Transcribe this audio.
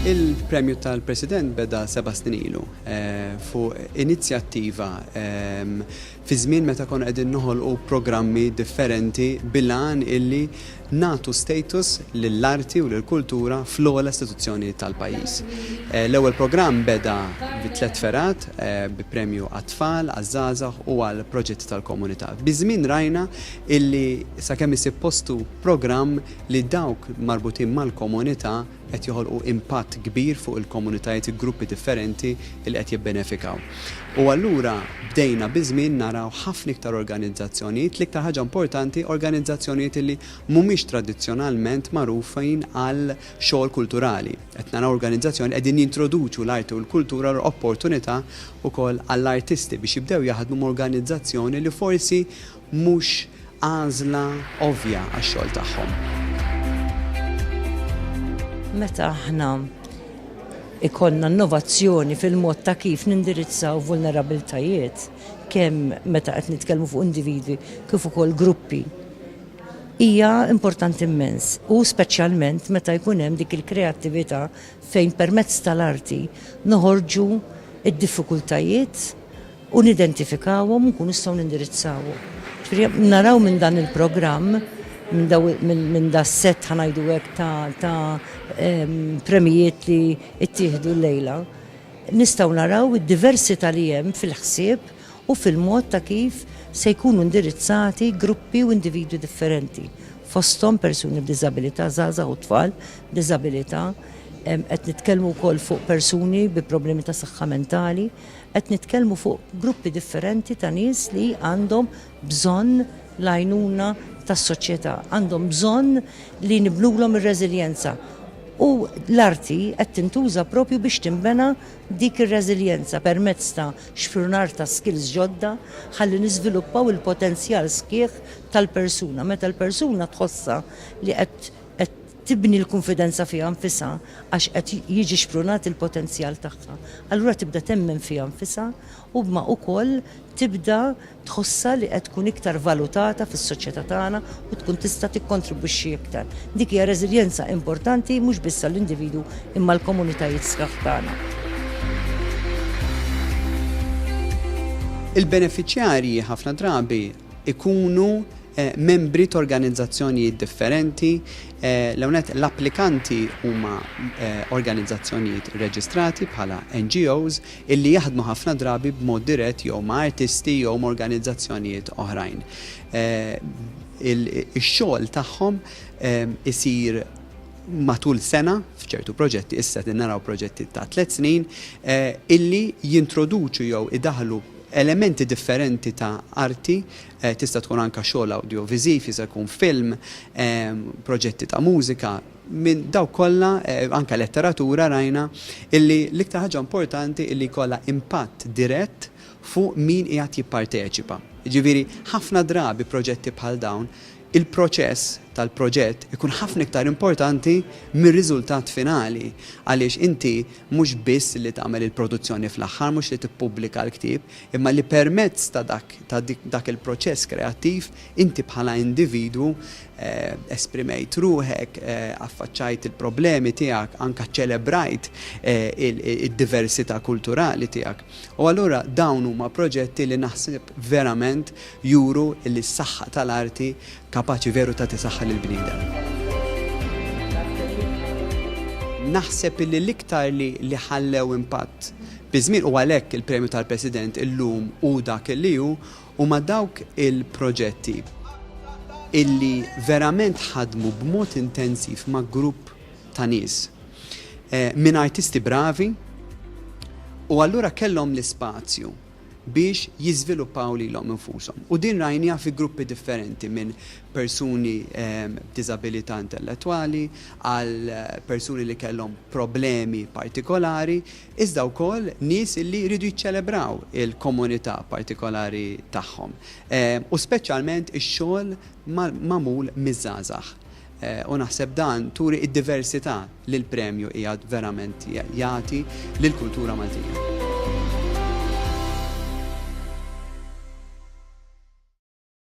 Il-Premju tal-President beda seba' snin ilu fuq inizjattiva fi żmien meta konna qegħdin noħolqu programmi differenti bil-għan illi nagħtu status lill-arti u lill-kultura fl-ogħla istituzzjoni tal-pajjiż. L-ewwel programm beda bi tliet fergħat bi premju għat-tfal, għaż-żgħażagħ u għall-proġetti tal-komunità. Biż-żmien rajna illi sakemm isib postu programm li dawk marbutin mal-komunità qed joħolqu impatt kbir fuq il-komunitajiet, il-gruppi differenti li qed jibbenefikaw. U allura bdejna biż-żmien naraw ħafna iktar organizzazzjonijiet, l-iktar ħaġa importanti organizzazzjonijiet li mhumiex tradizzjonalment magħrufin għal xogħol kulturali. Qed naraw organizzazzjoni qegħdin jintroduċu l-arti u l-kultura u opportunità wkoll għall-artisti biex jibdew jaħdmu m'organizzazzjoni li forsi mhux għażla ovvja għax-xogħol tagħhom. Meta aħna jkollna innovazzjoni fil-mod ta' kif nindirizzaw vulnerabbiltajiet, kemm meta qed nitkellmu fuq individwi kif ukoll gruppi, hija importanti immens u speċjalment meta jkun hemm dik il-kreattività fejn permezz tal-arti noħorġu d-diffikultajiet, u nidentifikawhom u nkunu nistgħu nindirizzawhom. Ġifieri naraw minn dan il-programm minn da set ħanajdu hekk ta' premijiet li ttieħdu llejla, nistgħu naraw id-diversità li hemm fil-ħsieb u fil-mod ta' kif se jkunu indirizzati gruppi u individwi differenti, fosthom persuni b'diżabilità, żgħażagħ u tfal b'diżabilità, qed nitkellmu wkoll fuq persuni bi problemi ta' saħħa mentali, Qed nitkellmu fuq gruppi differenti ta' nies li għandhom bżonn l-għajnuna tas-soċjetà, għandhom bżonn li nibnulhom ir-reżiljenza. U l-arti qed tintuża propju biex tinbena dik ir-reżiljenza permezz ta' xprunar ta' skills ġodda ħalli niżviluppaw il-potenzjal sħiħ tal-persuna. Meta l-persuna tħossha li qed tibni l-kunfidenza fiha nfisha għax qed jiġi xprunat il-potenzjal tagħha, allura tibda temmen fiha nfisha u b'ma ukoll tibda tħossha li qed tkun iktar valutata fis-soċjetà tagħna u tkun tista' tikkontribwixxi iktar. Dik hija reżiljenza importanti mhux biss għall-individwu imma għall-komunitajiet sħaħ tagħna. Il-benefiċjarji ħafna drabi ikunu membri t'organizzazzjonijiet differenti, l-ewwel nett l-applikanti huma organizzazzjonijiet rreġistrati bħala NGOs illi jaħdmu ħafna drabi b'mod dirett jew ma' artisti jew m'organizzazzjonijiet oħrajn. Ix-xogħol tagħhom isir matul sena, f'ċertu proġetti, issa qegħdin naraw proġetti ta' tliet snin, illi jintroduċu jew idaħħlu, Elementi differenti ta' arti, tista' tkun anke xogħol awdjoviżiv, jista' jkun film, proġetti ta' mużika, minn dawk kollha, anke letteratura rajna, illi l-iktar ħaġa importanti illi jkollha impatt dirett fuq min qiegħed jipparteċipa. Jiġifieri ħafna drabi proġetti bħal dawn, il-proċess tal-proġett ikun ħafna iktar importanti mir-riżultat finali għaliex inti mhux biss li tagħmel il-produzzjoni fl-aħħar, mhux li tippubblika l-ktieb, imma li permezz ta' dak ta' dak il-proċess kreattiv inti bħala individwu esprimejt ruħek, affaċċajt il-problemi tiegħek, anke ċċelebrajt id-diversità kulturali tiegħek. U allura dawn huma proġetti li naħseb verament juru illi s-saħħa tal-arti kapaċi veru tagħti saħħa lill-bniedem. Naħseb illi l-iktar li li ħallew impatt biż-żmien, u għalhekk il-Premju tal-President illum hu dak illi hu, huma dawk il-proġetti illi verament ħadmu b'mod intensiv ma' grupp ta' nies minn artisti bravi u allura kellhom l-ispazju. biex jiżviluppaw lilhom infushom. U din rajniha fi gruppi differenti minn persuni b'diżabilità intellettwali għal persuni li kellhom problemi partikolari iżda wkoll nies illi jridu jiċċelebraw il-komunità partikolari tagħhom u speċjalment ix-xogħol magħmul miż-żgħażagħ u naħseb dan turi id-diversità li l-premju qiegħed verament jagħti lill-kultura Maltija.